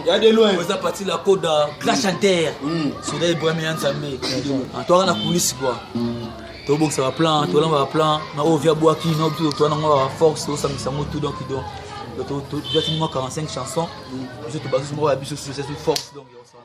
ya de loin oza parti la koda grand chanteur mm. soda ibrahim ya nzambe toaka na kulisi kua tobokisa baplan tolamba baplan na oyo via bwaki na oyo toa nango ba force tosangisa yango tout donc donc toatini mwa 45 chanson biso tobasusu moko ya biso susu force donc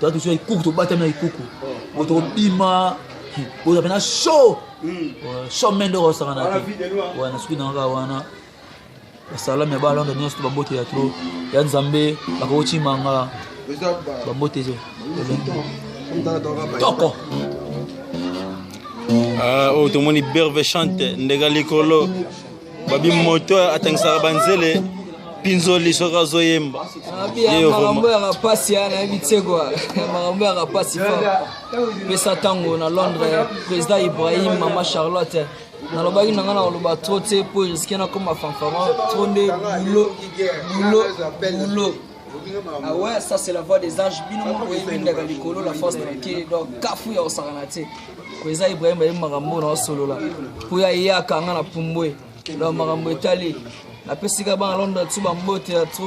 toza tosi na ikuku tobatami na ikuku bo tokobima boza mpena show show mende oko osangana te wana soki na kaka wana basalami ya balonda nyonso to babote ya tro ya nzambe bakokocima nga babote ezo toko oyo tomoni berve chante ndeka likolo babi moto atangisaka banzele pinzoli soki azoyemba makambo ya kapasi ya nayebi tseko makambo ya kapasi pesa ntango na londres président ibrahim mama charlotte nalobaki na ngai nakoloba trop te mpo eriske nakoma fanfama trop nde bulo bulo bulo Ah ouais, ça c'est la voix des anges. Bino moko boyebi ndaka likolo la force tranquille. Donc kafu ya osakana te. Ko eza Ibrahim ayemba makambo na osolola. Po ya ye akanga na pumbwe. Donc makambo etali. Napesi ka bana Londres tu bambote ya trop.